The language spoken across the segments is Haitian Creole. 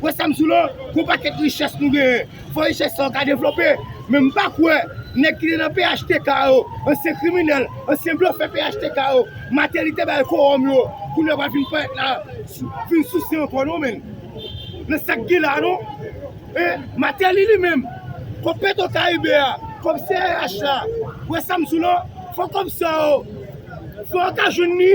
Wè sa m sou lò, gwo pakèt richès nou genyen, fò richès sa yo ka devlope, men m pa kwè nèg ki te nan phtk yo, ansyen kriminèl, ansyen blofè phtk yo, Mateli te bay kowòm yo, kounye a pral vin parèt la, vin souse ankò non menn. Nan sa k gen la non. E, Mateli li menm, kòb petro karibe a, kòb CRH la, wè sa m sou lò, fò kòb sa yo, fò yo ka jwenn li.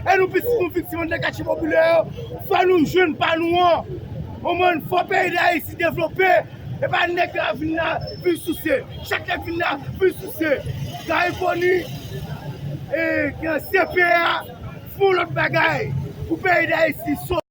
E nou pitit nou viktim anndan katye popilè yo, fò nou jwenn pa nou an. Ou man, fò peyi dayiti devlope, e pa nèg yo ap vin la vin souse. Chak nèg vin la vin souse. Gari koni, e gen CPA, fon lòt bagay pou peyi dayiti sove.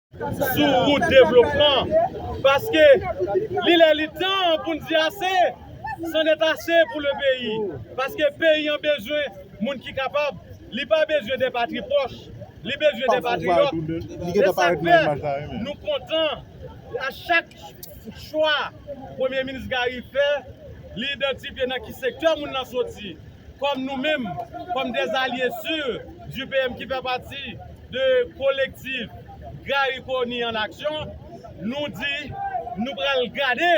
sou wout devlopman paske li lè li tan pou n di ase san nèt ase pou le peyi paske peyi an bezwen moun ki kapab li pa bezwen de patri pòch li bezwen de patriyòt se sa k fè nou kontan a chak chwa premye minis Garry fè li idantifye nan ki sektè moun nan soti kòm nou menm kòm dè alye si di PM ki fè pati de kolektif Garry Conille en action nou di nou pral gade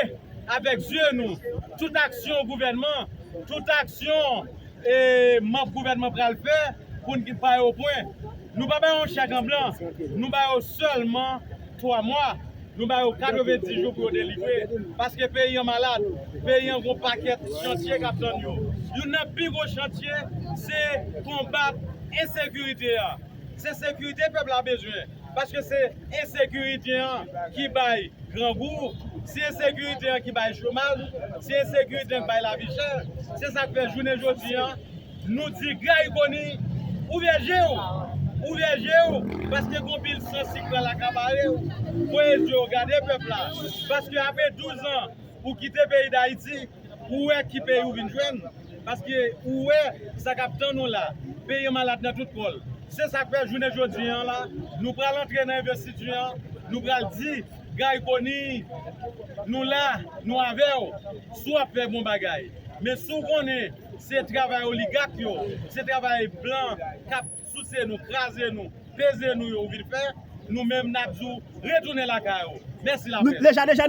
avèk zye nou tout aksyon gouvènman tout aksyon e manb gouvènman pral fè pou n ki pa yo pwen nou pa ba yo chèk an blan nou ba yo sèlman 3 mwa, nou ba yo 90 jou pou yo delivre, paske peyi an malad, peyi an gen yon pakèt chantye k ap tann yo. Youn nan pi gwo chantye se konbat ensekirite a. Se sekirite pèp la bezwen, paske se ensekirite an ki bay grangou, se ensekirite an ki bay chomaj, se ensekirite an ki bay lavi chè. Se sa k fè jounen jodi a. Nou di Guy Conille ouvè je w, ouvè je w paske gon pil san si k pral akapare w, voye zye w gade pèp la paske apre 12 an ou kite peyi Dayiti ou wè ki peyi w vin jwenn paske ou wè sa k ap tann ou la, peyi an malad nan tout kò l. Se sa k fè jounen jodi an la nou pral antre nan envestiti an, nou pral di Guy Conille nou la, nou avè w si w ap fè bon bagay men si w konnen. Se travay oligak yo, se travay blan kap souse nou, kraze nou, peze nou yo ou vin fè, nou menm nap di w retounen lakay ou. Mèsi lapès.